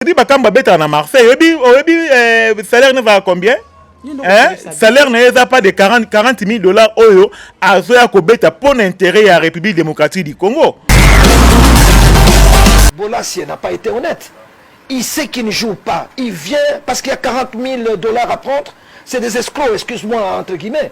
Fredi Bakambu abetaka na Marseille. Oyebi oyebi euh, salaire ne va combien? Hein? salaire na ye eza pas de 40, 40 000 dollars oyo azoya kobeta mpo na intérêt ya république démocratique du congo Bolasie n'a pas été honnête. Il sait qu'il ne joue pas. Il vient parce qu'il y a 40 000 dollars à prendre. C'est des escrocs, excuse-moi, entre guillemets.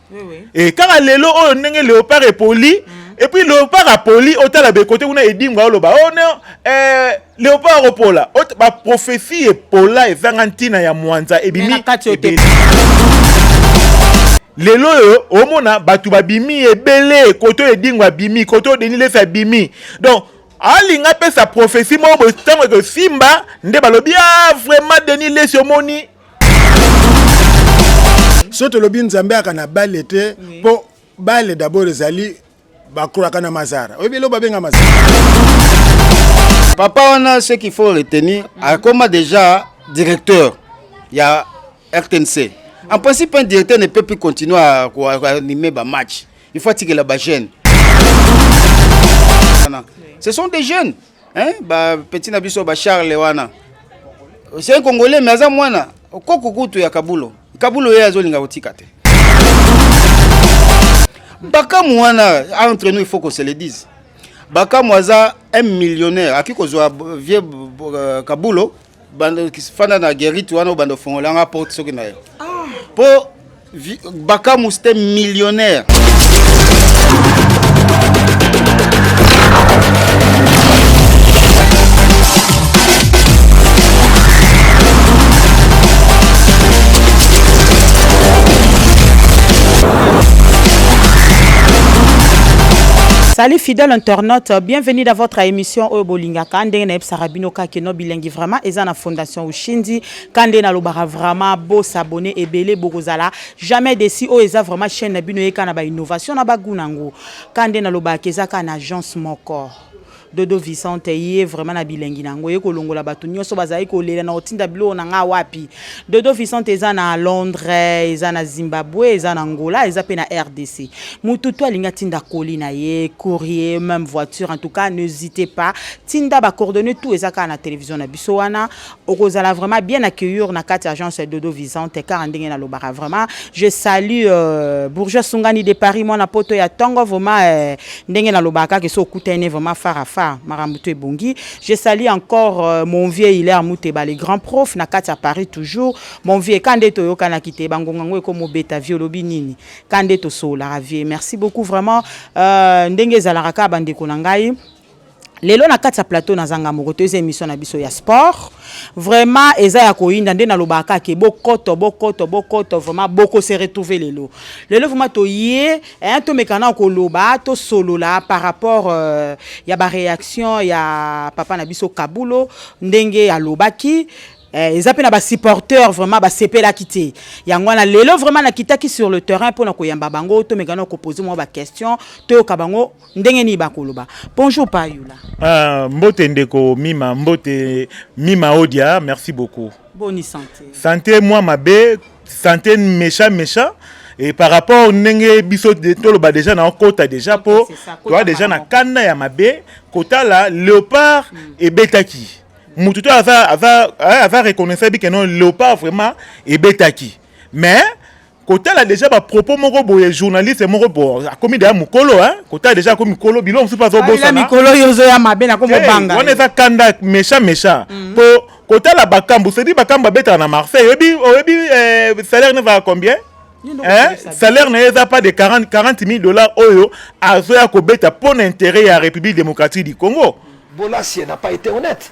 e kaka lelo oyo ndenge leopard epoli mm. epuis leopard apoli otala bekote kuna edimga oloba o oh, no eh, leopard akopola baprofesi epola ezanga ntina ya mwanza ebimi lelo oyo omona bato babimi ebele koto edingo abimi koto denilesi abimi donc alinga apesa profesi moko boye ntango ekosimba nde balobi a ah, vraiment denis lesi omoni soki tolobi nzambe aka na bale te mpo bale dabord ezali bakolaka na mazara oyebi eloko babenga mazara papa wana ce qu'il faut retenir akoma déjà directeur ya rtnc en principe un directeur ne peut plus continuer à animer ba match il faut atikela ba jeune ce sont des jeunes hein ba petit na biso ba Charles wana c'est un congolais mais aza mwana koko kutu ya kabulo kabulo ye azolinga kotika te bakamu wana entre nous il faut qu'on se le dise bakamu aza un millionnaire akoki kozwa vieux euh, kabulo bando fanda na guerite wana obanda ofongola nga porte soki na yo ah. po bakamu c'était millionnaire Salut fidèle internaute, bienvenue dans votre émission Oyo Bolingaka ndenge na bino ka keno bilengi vraiment eza na fondation ushindi kande na lobaka vraiment bo s'abonner ebele bokozala jamais desi oyo eza vraiment chaîne na bino yeka na ba innovation na bagu nango kande na lobaka eza ka na agence moko dodo vicente ye vraiment na bilengi na yango ye kolongola bato nyonso bazali kolela na kotinda biloko na ngai wapi dodo vicente eza na londres eza na zimbabwe eza na angola eza mpe na rdc motu to alingi atinda koli na ye courrier même voiture en tout cas n'hésitez pas tinda ba coordonnées tout eza kaka na télévision na biso wana okozala vraiment bien accueillir na kati agence Dodo Visante car ndenge na lobaka vraiment je salue euh, bourgeois Sungani de Paris mwana poto ya tongo vraiment euh, ndenge na lobaka ke so kutene vraiment far à far makambo to ebongi je salue encore euh, mon vieux Hilaire Muteba le grand prof na kati ya Paris toujours mon vieux kande to yokana kite bangonga ngo eko mobeta vieux lobi nini kande to sola vieux merci beaucoup vraiment euh, ndenge ezalaka ka bande ko na ngai lelo na kati ya plateau naza nga moko toyeza émission na biso ya sport vraiment eza ya koyinda nde nalobaka kaka ke bokoto bokoto bokoto vraiment boko se retrouver lelo lelo vraiment toye eh, tomeka na koloba tosolola par rapport euh, ya baréaction ya papa na biso kabulo ndenge alobaki eh, eza mpe na basupporteur vraiment basepelaki te yango wana lelo vraiment nakitaki sur le terrain mpo na koyamba bango tomeka na kopose mwa baquestion toyoka bango ndenge nini bakoloba bonjour pa yula ah, mbote ndeko mima mbote mima odia merci beaucoup boni santé santé mwa mabe santé méchant méchant et par rapport ndenge biso toloba déjà na okota déjà mpo toa déjà na kanda ya mabe kotala léopard mm. ebetaki motu to aza, aza, aza reconnaissable que non léopard vraiment ebetaki mais kotala deja bapropos moko boye journaliste moko bo akomi deja mokolo kotala deja akomi mokolo bilo mosusu mpe azobosanamikolo yo ozoya mabe nakomobanga wana eza kanda mecha mecha mm. mpo kotala bakambu sedi bakambu babetaka na marseille oyebi oyebi eh, salaire ne va combien Hein? salaire na ye eza pas de 40, 40 000 dollars oyo azoya kobeta mpo na intérêt ya république démocratique du congo bolasie na pas été honnête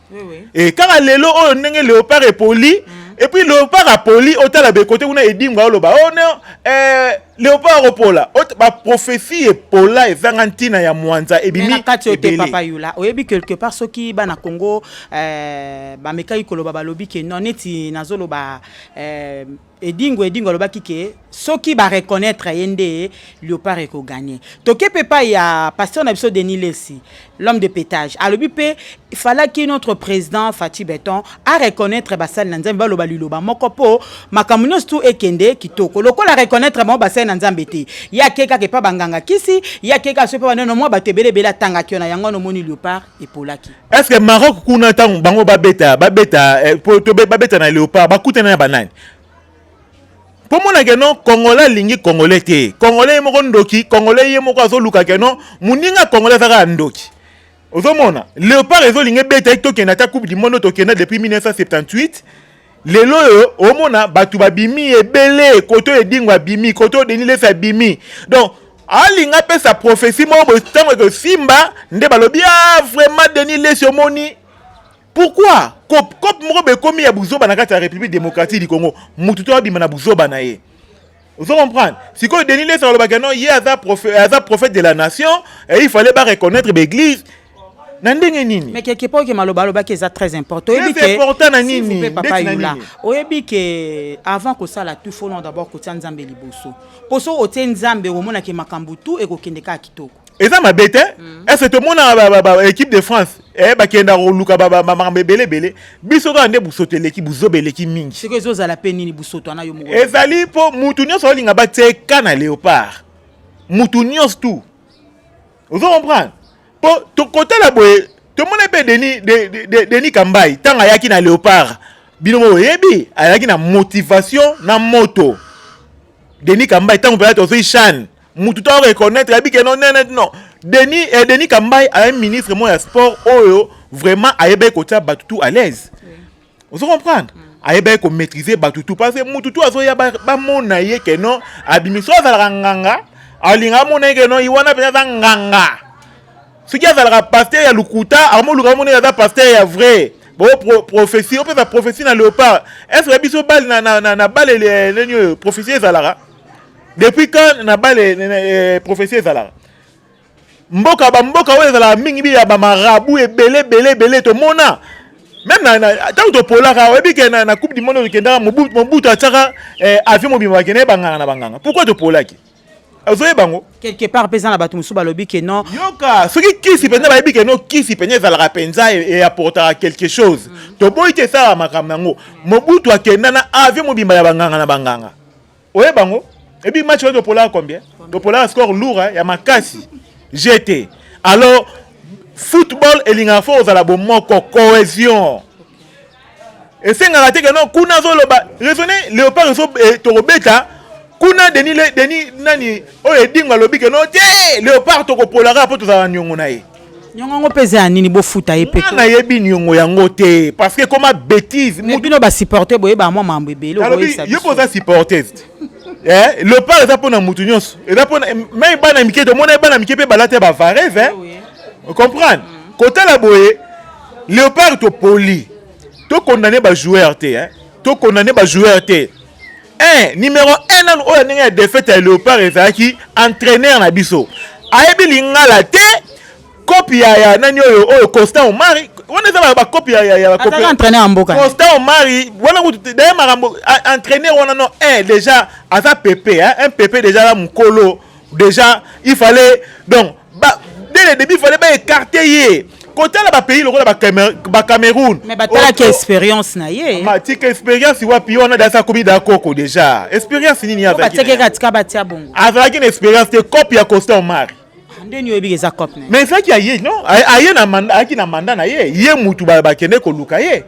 e kaka lelo oyo ndenge leopard epoli mm. epuis leopard apoli otala bekote kuna edimga oloba o oh, no eh, leopard opola baprofesi epola ezanga ntina ya mwanza ebimi kati oyo te papa yula oyebi quelque part soki bana congo eh, bamekaki koloba balobi ke non neti nazoloba eh, Edingo Edingo alobaki ke soki ba reconnaître ye nde Leopard eko gagner. Toke pe pa ya pasteur na biso Denis Lessi, l'homme de pétage. Alobi pe il fallait que notre président Fatih Beton a reconnaître basali na Nzambe baloba liloba moko po makambo nyonso tout ekende kitoko. Lokola reconnaître bango basali na Nzambe te, ye ake kaka epa ba nganga kisi, ye ake kaka soki epa ba nani, omwa bato ebele ebele atangaki wana, yango wana omoni Leopard epolaki est ce que maroc kuna ntango bango babeta babeta eh, po to be- babeta na léopard bakutana na banani mpo mona ke non congolais alingi congolais te congolais ye moko ndoki congolais ye moko azoluka ke non moninga congolais aza kaka ndoki ozomona léopard ezolinga ebeta ye tokende ata coupe du monde oyo tokenda depuis 1978 lelo oyo omona bato babimi ebele kote oyo edingo abimi kote oyo denis lefi abimi donc alinga apesa profesi moko boye ntango ekosimba nde balobi a ah, vraiment denis lesi omoni pourkui cope cope moko boye ekomi ya buzoba na kati ya république démocratique du congo motu to abima na buzoba na ye ozo comprendre sikoyo denis lesi alobaka non ye aza prophète, aza prophète de la nation et il fallait ba reconnaître baeglise na ndenge nini mais quelque part ke maloba alobaki eza très important oyebi ke important na nini s'il vous plaît papa yula oyebi ke avant kosala tout faut non d'abord kotia nzambe liboso poso otie nzambe omona ke makambo tout ekokende kaka kitoko eza mabe te mm. ese tomona équipe de france eh, bakenda koluka makambo ebele ebele biso kaka nde busoto eleki buzoba eleki mingi siko ezozala mpe nini busoto wana yo moko ezali mpo motu nyonso aolinga bateka na léopard motu nyonso tu ozo comprendre mpo tokotala boye tomona mpe denis de, de, de, de kambai ntango ayaki na léopard bino moko oyebi ayaki na motivation na moto denis kambai ntango mpenza tozwi shane mutu to reconnaître ayebi ke non nene non denis eh, denis kambai aye ministre moko ya sport oyo vraiment ayebaki kotia bato tout à l'aise ozo comprendre mm. ayebaki komaîtrise bato tout parce que mutu tout azoya bamona ye ke non abimi so azalaka nganga alinga amona ye ke non ye wana mpenza aza nganga soki azalaka paster ya lokuta akomoluka amona ye aza paster ya vrai bo pro, prophetie opesa prophetie na léopard est ce que biso bale na, na, na, na bale nini oyo prophetie ezalaka depuis quand na bale eh, prophetie ezalaka mboka bamboka oyo ezalaka mingi bi ya bamarabu ebele ebele ebele tomona meme ntango topolaka oyebi ke na coupe du monde tokendaka mobutu atyaka eh, avion mobima bakende banganga na banganga pourkui topolaki ozoye bango quelque part mpe eza na bato mosusu balobi ke non yoka soki kisi mpenza bayebi ke no kisi mpenza ezalaka mpenza eapportaka e quelque chose mm. toboyi te esalaka makambo yango mobutu akenda na avion mobimba ya banganga na banganga Oye bango et puis match oyo polaka combien topolaka score lourd hein, ya makasi gt alors football elingaka fo ozala bomoko cohésion esengaka te keno kuna azoloba raisonne léopard ezo eh, tokobeta kuna deni deni nani oyo edingo alobi keno te léopard tokopolaka mpo tozala niongo na ye nyongo yango mpe eza ya nini bofuta ye mpe nayebi nyongo yango te parce que ekoma bétise bino basupporte boyeba mwa mambo ebele yo mpe oza supportese eh, lopar eza mpo na motu nyonso eza mpo mai bana mike tomona bana mike mpe balata bavarese eh? Ah comprendre mm. kotala boye léopard topoli tokondane bajoueur te eh? tokondane bajoueur te 1 numero 1 nanu oyo ya ndenge ya defete ya leopard ezalaki entraîneur na biso ayebi lingala te kopi ya, ya nani oyo oyo constant omari wana eza bakopi ya, ya, ya bakopi entraîneur ya mboka constant omari wana kutu daye makambo entraîneur wana no un déjà aza pepe hein, un pepe déjà na mokolo déjà il fallait donc ba dès le début fallait ba écarter ye kotala ba pays lokola ba Camer- ba Cameroun mais batalaki Oto- experience na ye Ma, tika expérience wapi wana dasa komi da koko déjà expérience nini ye Po azalaki batiaki na ye? kaka tika batia bongo azalaki na expérience te cope ya costa omar nde nini oyebi eza cop na ye mais ezalaki ya ye non Aye- aye na manda ayaki na manda na ye ye mutu ba- bakende koluka ye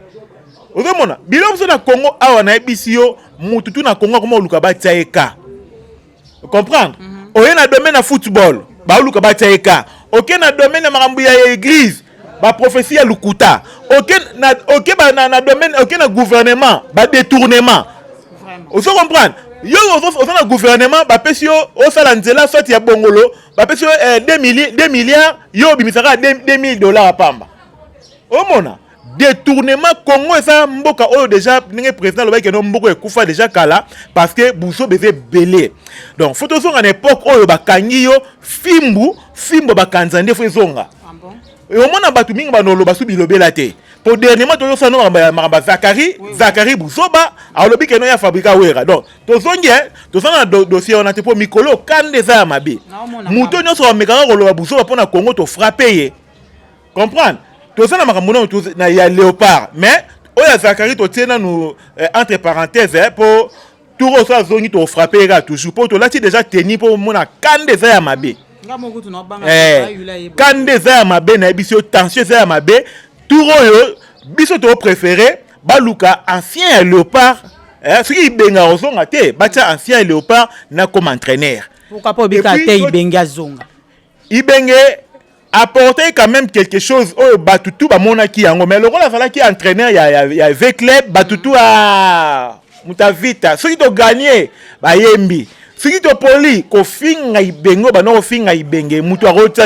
ozomona biloko biso na congo awa nayebisi yo mutu tu na congo akoma koluka batia ye ka comprendre mm -hmm. oye na domaine ya football baoluka batya ye ka oke na domaine ya makambo ya eglise baprofesi ya lokuta oke na, oke ba, na, na domaine oke na gouvernement badetournement ozo comprendre yo oza na gouvernement bapesi yo osala nzela soit ya bongolo bapesi yo 2 eh, milliards yo obimisaka 2000 dollars pamba omona detournement congo eza mboka oyo déjà ndenge président alobaki keno mboka ekufa déjà kala parce que buzoba eza ebele donc fo tozonga na époque oyo bakangi yo fimbu fimbo bakanza nde fo ezonga ah omona bato mingi banoloba so bilobela te po dernièrement tozosano makambo ya zakari zakari buzoba alobi keno ya fabrika wera donc tozongi eh, toza na dossier wana te mpo mikolo kanda eza ya mabe moto nyonso amekaka koloba buzoba mpo na congo tofrape ye comprendre toza na makambo nano na ya léopard mais oyo ya zakari totie nanu eh, entre parenthèse eh, mpo tour oyo so azongi tofrape ye kaka toujours mpo tolati déjà teni mpo omona kanda eza ya mabe eh, kanda eza ya mabe nayebisi yo tension eza ya mabe tour oyo biso topréféré baluka ancien ya léopard eh, soki ibenga ozonga te batya ancien ya léopard nakoma entraîneur pourquoi pas obika te ibenga azonga Ibenge apporter quand même quelque chose oyo batu tout bamonaki yango mais lokola azalaki entraîneur ya, ya, ya v club batu tout a mutavita soki toganye bayembi soki topoli kofinga ibenge oyo banda kofinga ibenge moto akotia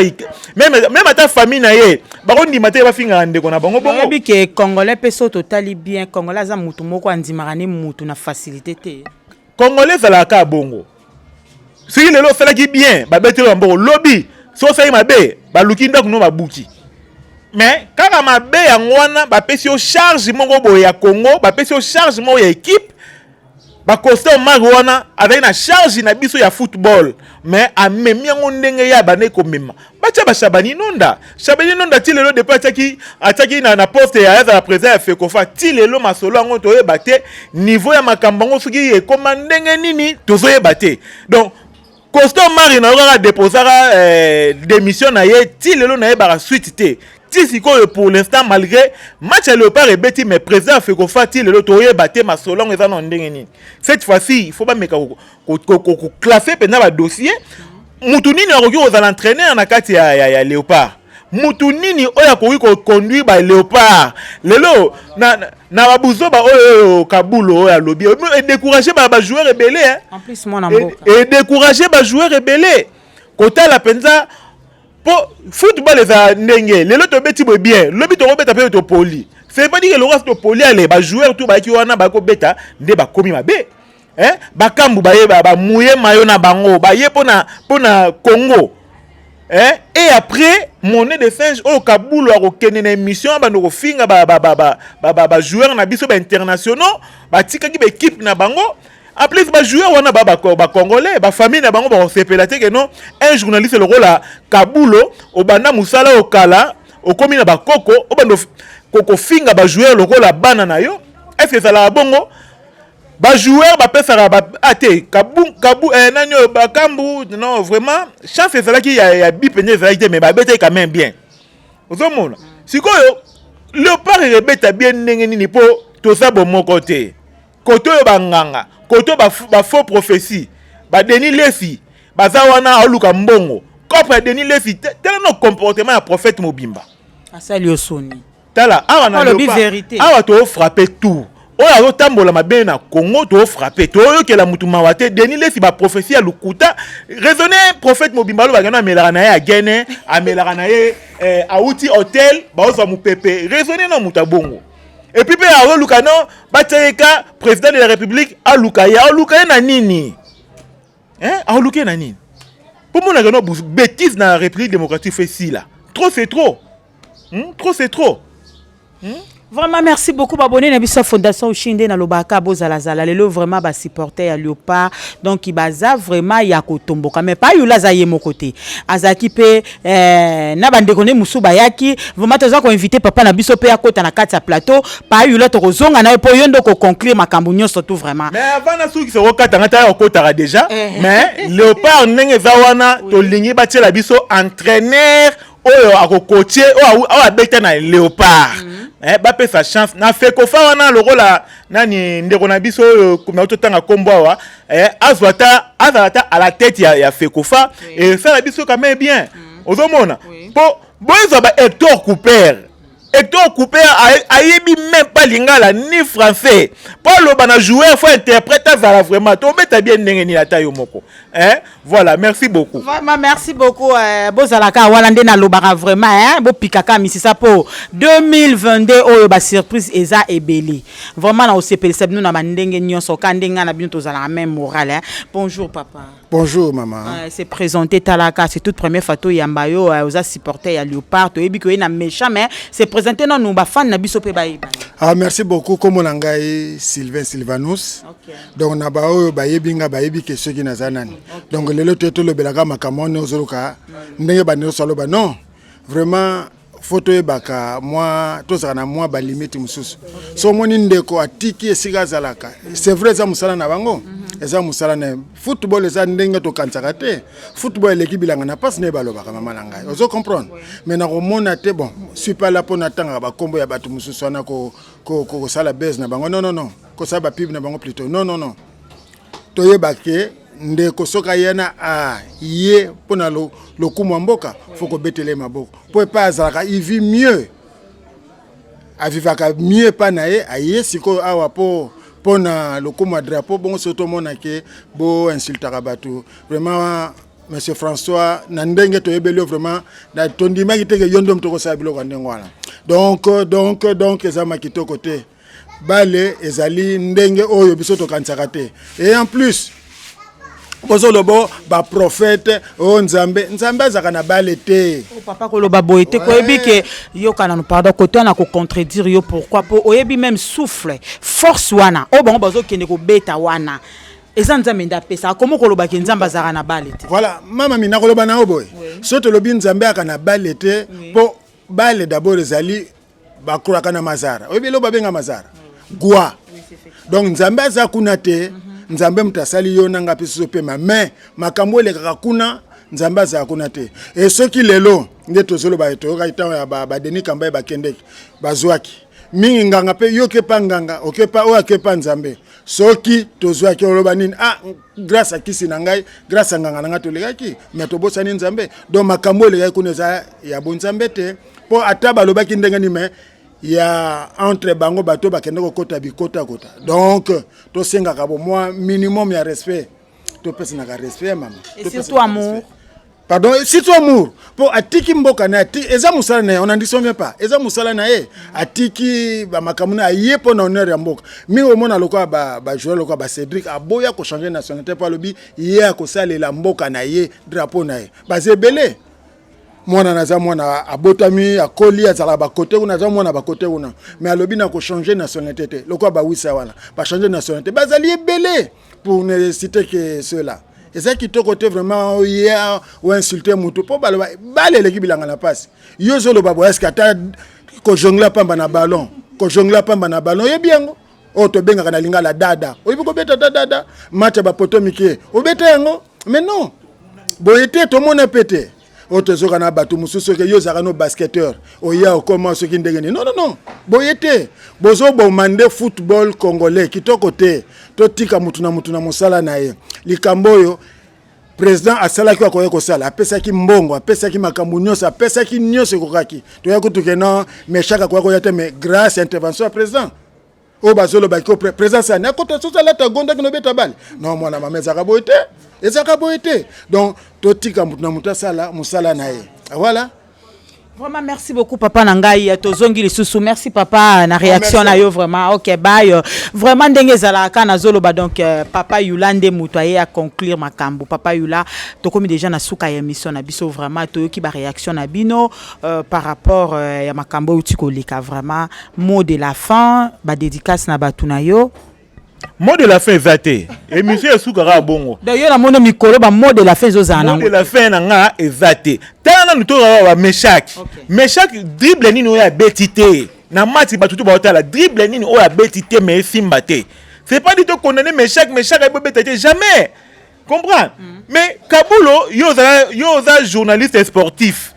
meme ata famille na ye bakondima te bafingaka ndeko na bango bongoyebi ke congolais mpe so totali bien congolais aza motu moko andimaka ne motu na facilité te congolais ezalaka bongo soki lelo osalaki bien babeteli bamboko lobi soki osalaki mabe baluki ndako no babuki mais kaka mabe yango wana bapesi yo charge moko boye ya congo bapesi yo charge moko ya ekipe bacosta omari wana azali na charge na biso ya football mais amemi yango ndenge ye abandaki komema batya bashabani nonda shabani nonda ti lelo depuis atyaki atyaki na, na poste ya azala président ya fekofa ti lelo masolo yango toyeba te niveau ya makambo yango soki ekoma ndenge nini tozoyeba te donc costo mari na yo kaka deposaka eh, démission na ye ti lelo nayebaka suite te ti sikoyo pour l'instant malgré match ya léopard ebeti mais président ya fekofa ti lelo toyeba te masolo yango eza na ndenge nini cette fois ci il faut bameka koklasse mpenza badossier motu nini akoki kozala entraîneur na kati ya, ya, ya léopard motu nini oyo akoki koconduire ba léopard lelo na, na, na babuzoba oyo kabulo oyo alobi edécourage ba bajoueur ebele edécourage bajoueur ebele kotala mpenza mpo football eza ndenge lelo tobeti boye bien lobi tokobeta mpe topoli c'est pas dire eloko asi topoli ale bajoueur to bayaki wana bakobeta nde bakomi mabe eh? bakambu baye bamuye mayo na bango baye mpona mpona congo eh? et après monnaie de singe oyo kabulu akokende na émission abanda kofinga bajoueur ba, ba, ba, ba, ba, ba, ba na biso bainternationaux batikaki baekipe na bango en plus bajoueur wana bacongolais bafamille na bango bakosepela te keno un journaliste lokola kabulo obanda mosala oyo kala okomi na bakoko obanda kofinga bajoueur lokola bana na yo est ce que ezalaka bongo ba joueur bapesaka ba, ah, te kabu, kabu, eh, nani oyo bakambu non vraiment chance ezalaki ya, ya bi mpenza ezalaki te mais babetaki quand même bien ozomona sikoyo leopard ebeta bien ndenge nini mpo toza bomoko te kote oyo banganga kote oyo bafaux ba prophétie badeni lesi baza wana aoluka mbongo cope ya deni lesi tala no comportement ya prophète mobimba asali yo soni tala awa na alobi verite awa to frapper tout oyo azotambola mabe na congo tofrape toyokela motu mawa te denis lesi baprofesi ya lokuta raisonne prophète mobimba alobaka no amelaka na ye agene amelaka na ye eh, auti hotel baozwa mopepe raisonne na moto ya bongo epuis mpe azoluka no batyayeka président de la république aluka ye aluka ye na nini hein aoluke na nini bomonaka no bêtise na république démocratique fe sila trop c'est trop hmm? trop c'est trop hmm? vraiment merci beaucoup babone na biso ya fondation ushi nde nalobaka bozalazala lelo vraiment basupporter ya leopard donc baza vraiment ya kotomboka mais pa yola aza ye moko te azalaki mpe Eh, na bandeko ne mosusu bayaki vraimen toza koinvite papa na biso mpe akota na kati ya plateau payula tokozonga na ye mpo yo nde okoconclure makambo nyonso tu vraimen mais avant nasukisa okata ngai tala okotaka déjà eh. mais léopard ndenge eza wana tolingi batiela biso entraîneur oyo akokotie oyo abeta na léopard mm. eh, bapesa chance na fekofa wana lokola nani ndeko na biso oyo nauti otanga nkombo awa eh, azwa ata azala ata à la tête ya, ya fekofa oui. esala biso quand même bien mm. ozomona oui. mpo boyezwa ba hector couper hector couper ayebi même pas lingala ni français mpo aloba na joueur fo interprète azala vraiment tobeta bien ndenge nini ata yo moko eh? Voilà, merci beaucoup. Vraiment, merci beaucoup. Euh, Bozalaka, voilà, nde nalobaka vraiment, hein, bopikaka misisa po 2022 oyo ba surprise eza ebele. Vraiment na osepelisa bino na bandenge nyonso ka ndenga na bino tozalaka même morale. Hein. Bonjour papa. Bonjour maman. Euh, c'est présenté Talaka, c'est toute première fois to yamba yo euh, oza supporter ya Leopard, to yebi ko na méchant mais c'est présenté non nous ba fan na biso pe ba yeba. Ah merci beaucoup comme on ngai Sylvain Sylvanus. Okay. donc na baoyo bayebi nga bayebi ke soki naza nani donc lelo toye tolobelaka makambo wana ozoluka ndenge banioso aloba non vraiment fo toyebaka mwa tozala na mwa balimite mosusu so omoni ndeko atiki esika azalaka c'est vrai eza mosala na bango mhm. eza mosala na football eza ndenge tokanisaka te football eleki bilanga na mpasi na ye balobaka mama na ngai ozo comprendre mais nakomona te bon supala mpo natangaka bakombo ya bato mosusu wana kosala base na bango non non non kosala ba pub na bango plutôt non non non toyeba ke ndeko soki aya na a ye mpo na lokumu ya mboka fo kobetele maboko mpo epai azalaka ivi mieux avivaka mieux epai na ye aye sikoyo awa mpo mpo na lokumu ya drapeau bongo soki tomona ke bo insultaka bato vraiment monsieur françois na ndenge toyebeli yo vraiment tondimaki te ke yo nde moto okosala biloko ya ndenge wana donc donc donc ezalama kitoko te bale ezali ndenge oyo biso tokanisaka te et en plus bozoloba baprofete o oh, nzambe nzambe azalaka na bale te oh, papa koloba boye te koyebi ke yokanano pardon kote wana kocontredire yo pourquoi mpo oyebi meme souffle force wana oyo oh, bango bazokende kobeta wana eza nzambe nde apesa akomi koloba ke nzambe azalaka na bale te voilà mama mina koloba na yo boye so tolobi nzambe aka na bale te mpo bale dabord ezali bakolaka na mazara oyebi eloko babenga mazara gwa donc nzambe aza kuna te mhm. nzambe moto asali yo nanga mpe soso pema mais makambo elekaka kuna nzambe azala kuna te e soki lelo nde tozoloba toyokaki ntango ya badeni kambai bakendeki bazwaki mingi nganga mpe yoki epa nganga okepa oyo akepa nzambe soki tozwaki oloba nini ah grâce à kisi na ngai grâce à nganga na ngai tolekaki me tobosani nzambe donc makambo elekaki kuna eza ya bonzambe te mpo ata balobaki ndenge nini me ya entre bango bato bakende kokota bikotakota donc tosengaka bomwa minimum ya respect topesanaka respect ya mama surtout amour pardon surtout amour mpo atiki mboka na ye eza mosala na ye on en disonge pas eza mosala na ye atiki bamakambo na aye mpo na honneur ya mboka mingi omona lokola bajournal lokola bacédric aboya kochange nationalité mpo alobi ye akosalela mboka na ye drapeau na ye baza ebele mwana naza mwana abotami akoli azalaka bakote kuna aza mwana bakote kuna mais alobi na kochange nationalité te lokola bawisa wana bachange nationalité bazali ebele pour ne citer que cela eza kitoko te vraiment oye oinsulte motu mpo baloba bale eleki bilanga na mpasi yo ozoloba boye eske ata kojongla pamba na ballon kojongla pamba na ballon oyebi yango oyo oh, tobengaka na lingala dada oyebi kobeta ta dada match ya bapoto mike obeta yango mais non boye te tomona mpe te oyo tozoka na bato mosusu oke yo ozalaka no basketteur oya okoma soki ndenge nini non non non boye te bozoboma nde football congolais kitoko te totika motu na motu na mosala na ye likambo oyo président asalaki oyo akoki kosala apesaki mbongo apesaki makambo nyonso apesaki nyonso ekokaki toya kutuke no meshaka akoya koya te mais grâce ya intervention ya président oyo bazoloba ko présence ya nakota soso alata agondaki nobeta bale no mwana mama ezalaka boye te ezalaka boye te donc totika moto na moto asala mosala na ye voilà Vraiment, merci beaucoup, papa Nangaï. Tozongi les sous Merci, papa, na ah, réaction na yo, vraiment. Ok, bye. Vraiment, dengue zala kana zolo ba donc euh, papa Yula nde mutoye à conclure ma kambu. Papa Yula, tokomi déjà na souka ya mission na biso vraiment toyoki ba réaction na bino. Euh, par rapport euh, ya makambo euti koleka vraiment mot de la fin badédicace na bato na yo mot de la fin eza te émission esukaka bongo donc yo namono mikolo ba mot de la fin ezozala nango de la fin na nga eza te tala nanu tozala ba meshaki okay. meshaki dribble nini oyo abeti te na mati bato tu baotala dribble nini oyo abeti te me esimba te c'est pas dit tokondane meshaki meshaki ayebobeta te jamais comprends mm. mais kabulo yo oza yo oza journaliste sportif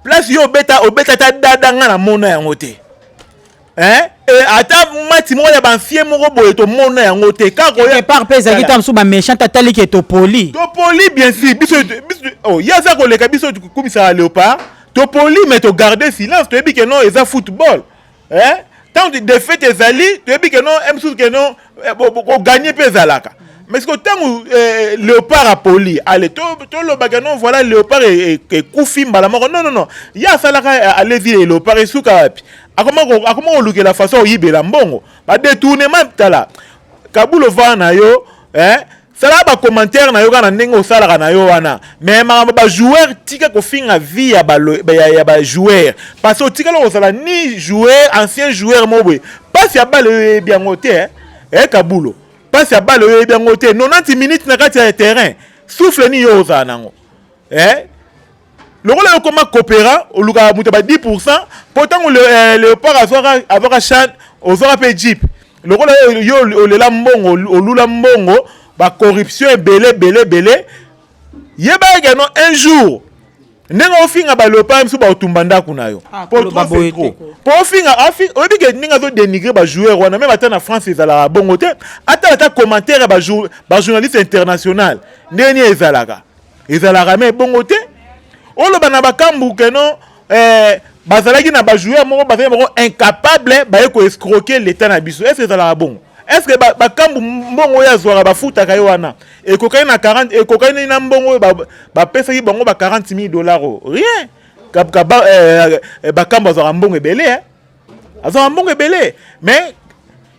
place yo obeta obeta ata dada nga na mona yango te hein et ata mati moko ya banfie moko boye tomona yango te kaka oya départ mpe ezalaki ntango mosusu baméchant atali ke topoli topoli bien sûr biso oh, ye aza koleka biso kumisaka léopard topoli mais togarde silence toyebi ke non eza football eh? ntango defete ezali toyebi ke no eh, mosusu ke no eh, koganye mpe ezalaka mais siko ntango eh, léopard apoli ale tolobaka to no voilà léopard e, e, ekufi mbala moko non non non ye asalaka alezi e léopard esuka wapi akoma kolukela façon oyibela mbongo badetournement tala kabula ovaa na yo eh? Sala ba commentaire na yo kaka na ndenge osalaka na yo wana mais makambo ba joueur tika kofinga vie ya ba, ya, ya ba joueur parce que otikali kozala ni joueur ancien joueur moko boye mpasi ya bale oyo eyebi yango te eh, eh kabulo mpasi ya bale oyo eyebi yango te 90 minutes na kati ya terrain souffle nini yo ozala nango eh? lokola yo koma coopera olukaka moto ba 10 pourcent mpo ntango eh, leopard azwaka chan ozwaka mpe jeep lokola yo olela mbongo olula mbongo bacorruption ebele ebele ebele yeba eke no un jour ndenge ofinga baleopard biso baotumba ndako na yo ah, mpo ofinga oyebi ke ndenge azodenigre bajoueur wana meme ata na france ezalaka bongo te atala ata commentaire ya bajournaliste international ndenge nini ezalaka ezalaka me ebongo te oloba na bakambu keno eh, bazalaki na bajoueur moko bazali moko incapable baye koescroke leta na biso est ce ezalaka bongo est ce que bakambu ba mbongo oyo azwaka bafutaka ye wana ekokani na 40 ekokani na mbongo oyo bapesaki ba bango ba 40 000 dollars oyo rien bakambu eh, eh, eh, azwaka mbongo ebele eh? azwaka mbongo ebele mais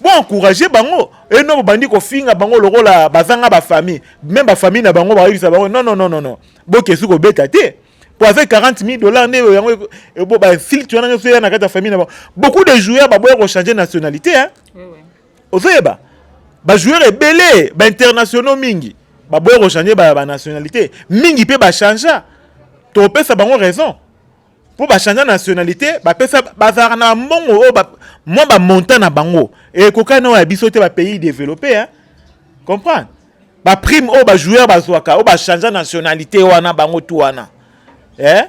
Bo encourager bango et non bobandi kofinga bango lokola bazanga ba famille même ba famille na bango bayebisa bango non non non non non bokesi kobeta te po avec 40 000 dollars nde yango eko- e- bo ba filtre wana nyonso eya na kati ya famille na bango beaucoup de joueurs baboya kochanger nationalité hein Oui, oui. ozoyeba bajoueur ebele bainternationaux mingi baboya kochange banationalité mingi mpe bachangea topesa bango raison mpo bachangea nationalité bapesa bazalaka na mbongo oyo mwa bamontant na bango ekokani na oyo ya biso te bapays développé comprendre baprime oyo bajoueur bazwaka oyo bachangea nationalité wana bango tu wana eh?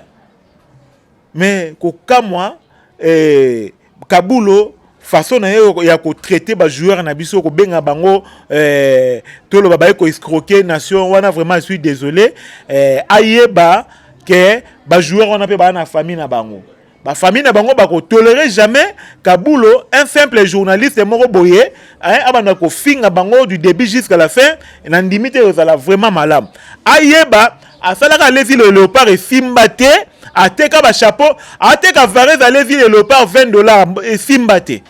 mais kokamwa eh, Kabulo façon na ye ya kotraite bajoueur na biso kobenga bango eh, toloba baye koescroke nation wana vraiment je suis désolé eh, ayeba ke bajoueur wana mpe baa na famille na bango bafamille na bango bakotolere jamais kabulo un simple journaliste moko boye abanda kofinga bango du début jusqu'à la fin nandimi te ezala vraiment malamu ayeba asalaka ale vile ya leopard esimba te ateka bachapeau ateka varese ale vile ya leopard 20 dollar esimba te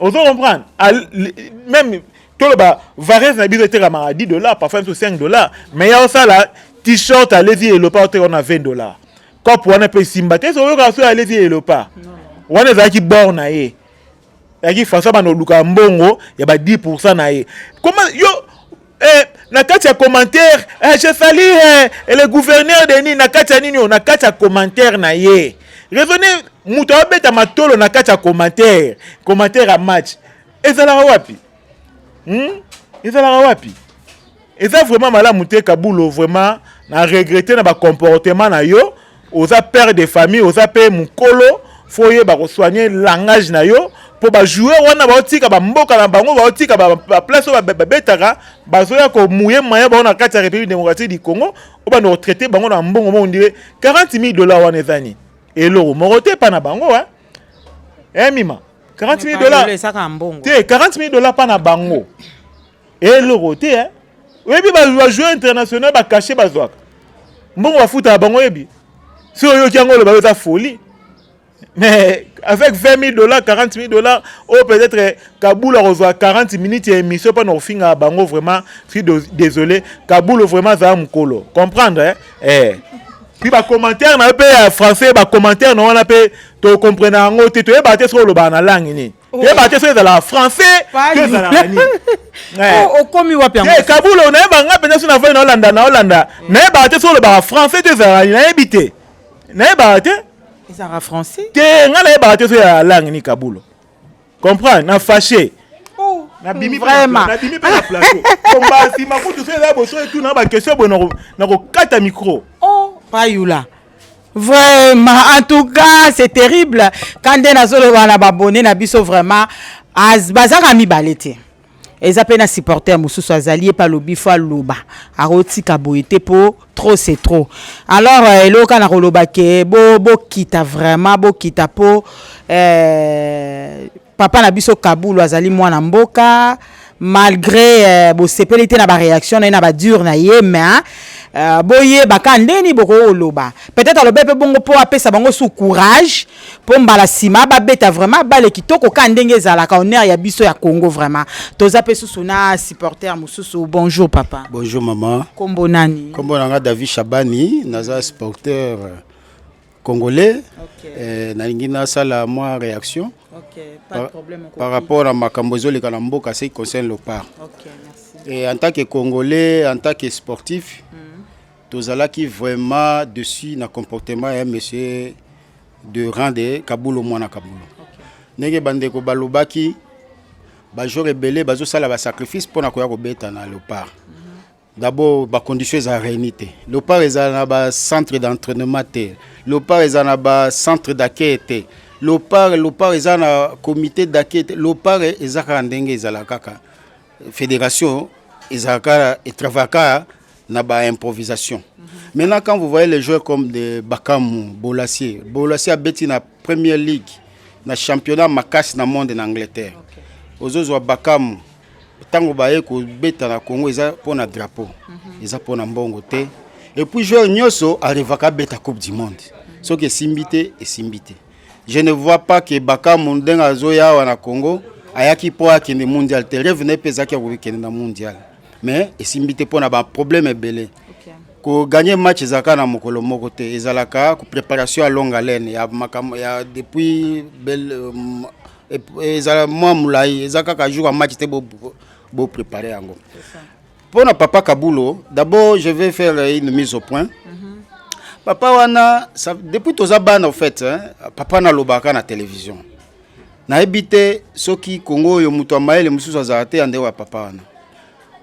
ozo comprendre meme toloba varese na biso etekamaka 10 dollar parfois biso 5 dollar mais ya osala t-shirt ale vile ya leopard oteka wana 20 dollar cope wana mpe esimba te soki oyokaka soki ale vile ya leopard wana ezalaki bord na ye yaki françois bana oluka mbongo ya ba 10 na ye koma yo eh, na kati ya commentaire eh, je sali eh, le gouverneur de nini na kati ya nini oyo na kati ya commentaire na ye raisonne moto abeta matolo na kati ya commentaire commentaire ya match ezalaka wapi hmm? ezalaka wapi eza vraiment malamu te kabulo vraiment na regrete na bacomportement na yo oza père de famille oza mpe mokolo fo oyeba kosoigne langage na yo mpo bajoueur wana baotika bamboka na bango baotika baplace oyo babetaka bazoya komuye maya bango na kati ya république démocratique du congo obanda kotraite bango na mbongo moko ndire 40 000 dollar wana eza nini eloko moko te epa na bango e eh, mima 40 000 dollar te 40 000 dollar mpa na bango eloko te eh? oyebi bajoueur international bakashe bazwaka mbongo bafutaka bango oyebi si oyoki yango oloba yo eza folie mais avec 20 000 dollars 40 000 dollars ou oh, peut-être kabula kozwa 40 minutes ya émission mpona kofingaka bango vraiment suis désolé kabula vraiment azala mokolo comprendre eh? eh. puis bacommentaire na yo mpe ya français bacommentaire na wana mpe tokomprenaka yango te toyebaka te soki olobaka na langue nini Oh. yeba te soki ezalaka français to ezalaka nini eh. oh, okomi wapi yango eh, kabulo nayeba nga mpenza soki nafai naolanda naolanda nayebaka te soki olobaka français to ezalaka nayebi te nayebaka te ezalaka français te nga nayebaka te soki ya langue ni kabulo comprendre na fache oh, nabimi vraiment nabimi mpe na plateau komba nsima kutu soki eza boso etuna bakestion boye nakokata micro oh payula Vraiment, en tout cas, c'est terrible. Quand on a solo wana babone na biso vraiment az bazaka mibale te. Eza pe na supporter mususu azali epa lobi fo aloba. Akotika boye te po trop c'est trop. Alors euh, eloka na koloba ke bo bo kita vraiment bo kita po euh Papa na biso Kabulu azali mwana mboka malgré euh, bosepeli te na ba réaction na ye na ba dure na ye mais euh, boyeba ka ndeni bokoki koloba peut-être alobe mpe bongo mpo apesa bango su courage mpo mbala nsima babeta vraiment bale kitoko ka ndenge ezalaka honneur ya biso ya congo vraiment toza mpe susu na supporter mosusu bonjour papa bonjour maman nkombo nani nkombo na nga david shabani naza supporter congolais okay. eh, nalingi nasala mwa réaction okay. par, par rapport na makambo ezoleka na mboka ce qui concerne le part okay, et en tant que congolais en tant que sportif mm. tozalaki vraiment dessus na comportement ya monsieur de rande kabulo mwana kabulo okay. ndenge bandeko balobaki bajour ebele bazosala basacrifice mpo na koya kobeta na leopard mm. D'abord ba conditions eza réuni te. Lopar eza na ba centre d'entraînement te. Lopar eza na ba centre d'accueil te. Lopar Lopar eza na comité d'accueil te. Lopar eza kaka ndenge ezala kaka. Fédération eza kaka et travaille kaka na ba improvisation. Mm -hmm. Maintenant quand vous voyez les joueurs comme de Bakamu, Bolasie, Bolasie abeti na Premier League na championnat makasi na monde na Angleterre. Okay. Ozozwa Bakamu ntango baye kobeta na congo eza mpo na drapeau mhm. eza mpo na mbongo te epuis joueur nyonso arevaka abeta coupe du monde soki esimbi te esimbi te je ne vois pas ke bakamu ndenge azoya awa na congo ayaki mpo akende mondial te reve na ye mpe ezalaki ya kokende na mondial mais esimbi te mpo na baproblème ebele koganye match ezalaka na mokolo moko te ezalaka préparation ya longue haleine ya makambo ya depuis belle euh, ezala mwa molai eza kaka jour ya match te boprépare bo yango mpo na papa kabulo d'abord je vais faire une mise au point mhm. papa wana ça, depuis toza bana au fait hein, papa nalobaka na télévision nayebi te soki kongo oyo moto ya mayele mosusu azala te ya ndeko ya papa wana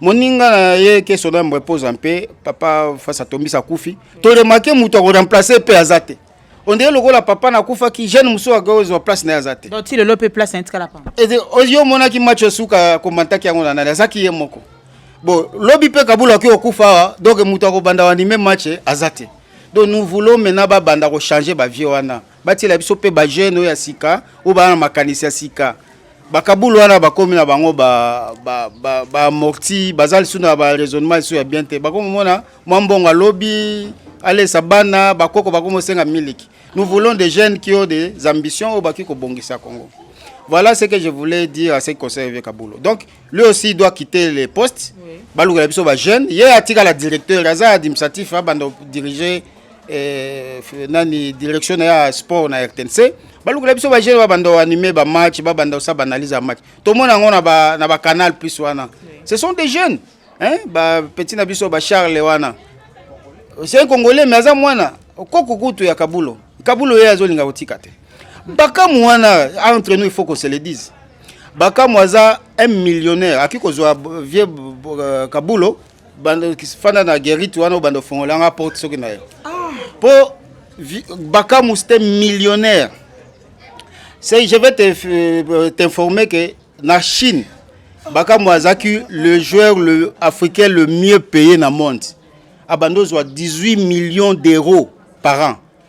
moninga na ye keso na yambo epoza mpe papa fasi atombisi akufi toremake moto akoremplace mpe aza te ondire lokola papa nakufaki jeune mosusu akozwa place na ye aza te ti lelo mpe place na ye tikala pamba yo omonaki match esuka komantaki yango na nani azaki ye moko bon lobi mpe kabula oki okufa awa donc moto akobanda wanime match aza te donc nous voulons maintenant babanda kochanger bavie wana batiela biso mpe bajeune oyo ya sika oyo baa na makanisi ya sika bakabulu wana bakomi na bango baamorti baza lisusu na baraisonnement lisusu ya bien te bakomomona mwa mbongo alobi alesa bana bakoko bakomosenga miliki nous voulons des jeunes qui ont des ambitions oyo bakoki kobongisa congo voilà ce que je voulais dire à ce conseil vieux kabulo donc lui aussi doit quitter le poste oui. balukela biso bajeune ye atikala directeur aza administratif abanda dirige eh, nani direction na ya sport na rtnc balukela biso bajeune babanda oanime bamatch babanda osa baanalyse ya match tomona yango na bacanal ba plus wana oui. ce sont des jeunes hein? bapetit na biso bacharle wana c'est un congolais mais aza mwana koko kutu ya kabulo kabulo ye azolinga kotika te bakamu wana entre nous il faut qu'on se le dise bakamu aza un millionnaire akoki kozwa vieux euh, kabulo fanda na gerite wana obanda ofongola nga porte soki na ye mpo ah. bakamu c'était millionnaire c'est je vais euh, t'informer que na chine bakamu azalaki le joueur le africain le mieux payé na monde abanda ozwa 18 millions d'euros par an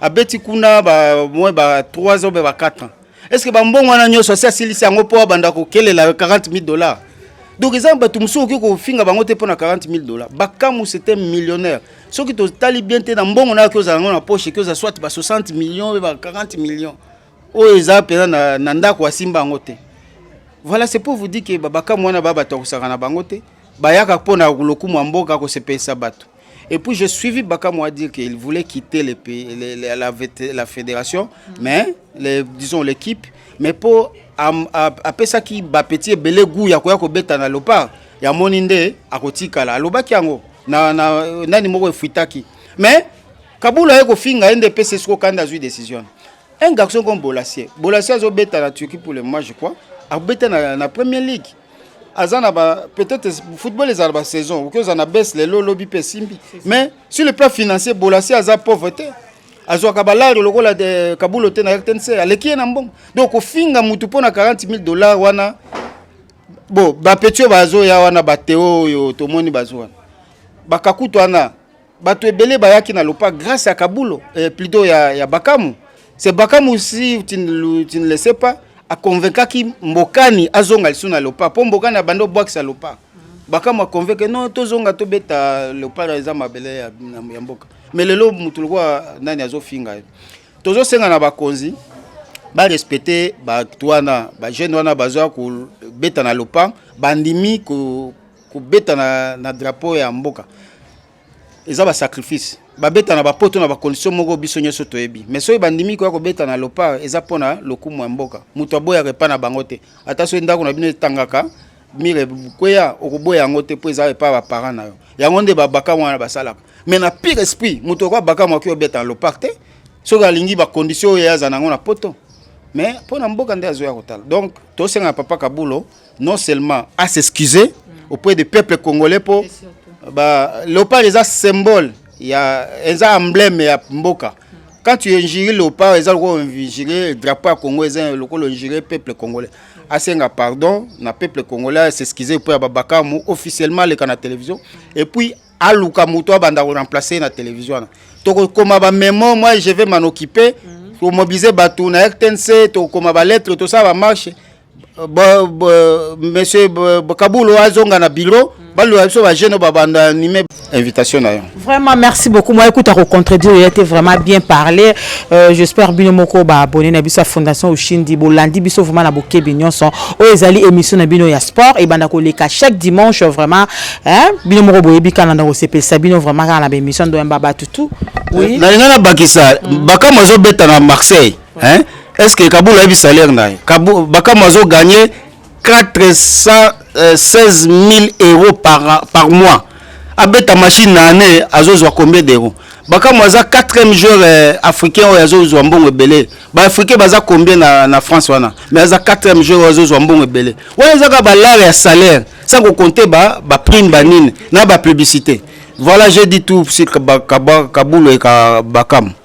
abeti kuna ba moins ba 3 ans ba 4 ans est-ce que ba mbongo wana nyoso asi asilisi yango po abanda ko kelela 40000 dollars donc eza bato mosusu okoki kofinga bango te mpo na 40 000 dollars bakamu c'était millionnaire soki totali bien te na mbongo na yoki ozala yango na poche eki oza soit ba 60 millions oyo ba 40 millions oyo eza mpenza na, na ndako asimba yango te voilà c'est pour vous dire que babakamu wana ba bato akosaka na bango te bayaka mpo na lokumu ya mboka kosepelisa bato Et puis j'ai suivi Bakamoua dire qu'il voulait quitter les pays, les, les, la, la, fédération, mm. mais les, disons l'équipe, mais pour appeler ça qui bat petit belé goût, yakoya ko beta na lopa, ya moninde akotikala, alobaki yango na na nani moko efuitaki. Mais Kabula yeko finga NDPC soko kanda zui décision. Un garçon comme Bolassier, Bolassier azo beta na Turquie pour le moment je crois, abeta na, na Premier League. aza na ba peut-être football ezala ba saison okoki ozala na base lelo lobi mpe esimbi mais sur le plan financier bolasi aza pauvre te azwaka balare lokola de kabulo te na rtnc aleki ye na mbongo donc kofinga motu mpo na 40 000 dollars wana bo bapeti oyo bazoya wana bateo oyo tomoni bazo wana bakakutu wana Bato ebele bayaki na lopa grâce ya Kabulo eh, plutôt ya, ya Bakamu. C'est Bakamu si tu ne, tu ne le sais pas akonvekaki Mbokani azonga lisu na lopa po Mbokani abandi obwakisa lopa. Bakamu akonveke non tozonga tobeta lopa eza mabele ya, ya mboka. Mais lelo mutu lokola nani azofinga ye. Tozosenga na bakonzi barespecte bato wana bajeune wana bazoya kobeta na lopa bandimi kobeta na, na drapeau ya mboka eza ba sacrifice babeta na bapoto na bacondition moko biso nyonso toyebi mais soki bandimi koya kobeta na lopar eza mpo na lokumu ya mboka moto aboyaka epai na bango te ata soki ndako na bino etangaka mire kweya okoboya yango te mpo eza epai baparent na yo yango nde babakama wana basalaka mais na pire esprit moto okoya bakama oki obeta na lopar te soki alingi bacondition oyo aza na yango na poto mais mpo na mboka nde azoya kotala donc tosenga papa kabulo non seulement à s'excuser auprès des peuples congolais po ba leopard eza symbole ya eza emblème ya mboka quand tu injures leopard eza lokola injure drapeau ya congo eza lokola injure peuple congolais asenga pardon na peuple congolais s'excuser auprès ya babakamu officiellement aleka na télévision et puis aluka moto abanda koremplace na télévision wana tokokoma bamemo moi je vais m'en occuper tomobilize bato na rtnc tokokoma balettre tosala bamarche bo, bo, monsieur bo, bo, kabulo azonga na bureau mm. baloba biso bagene babanda anime invitation na yo vraiment merci beaucoup moi écoute akocontredire ye te vraiment bien parlé euh, j'espère bino moko baabonne na biso ya fondation oshindi bolandi biso vraiment na bokebi nyonso oyo ezali émission na bino ya sport ebanda koleka chaque dimanche vraiment hein? bino moko boyebi kaka nanda kosepelisa bino vraiment kaka na baémission ndoyamba bato tout oui. nalinga na bakisa mm. bakambo azobeta na marseille hein est ce que kabula ayebi salaire na ye bakama azo gagne 416 000 euros par, par mois abeta machine na année azozwa combien d'euros bakama aza 4e joueur euh, africain oyo azozwa mbongo ebele baafricain baza combien na, na france wana mais aza 4e joueur oyo azozwa mbongo ebele wana ezaka balare ya salaire sans kokonte baprime ba banini na bapublicité voilà j'ai dit tout sur kabulo et bakama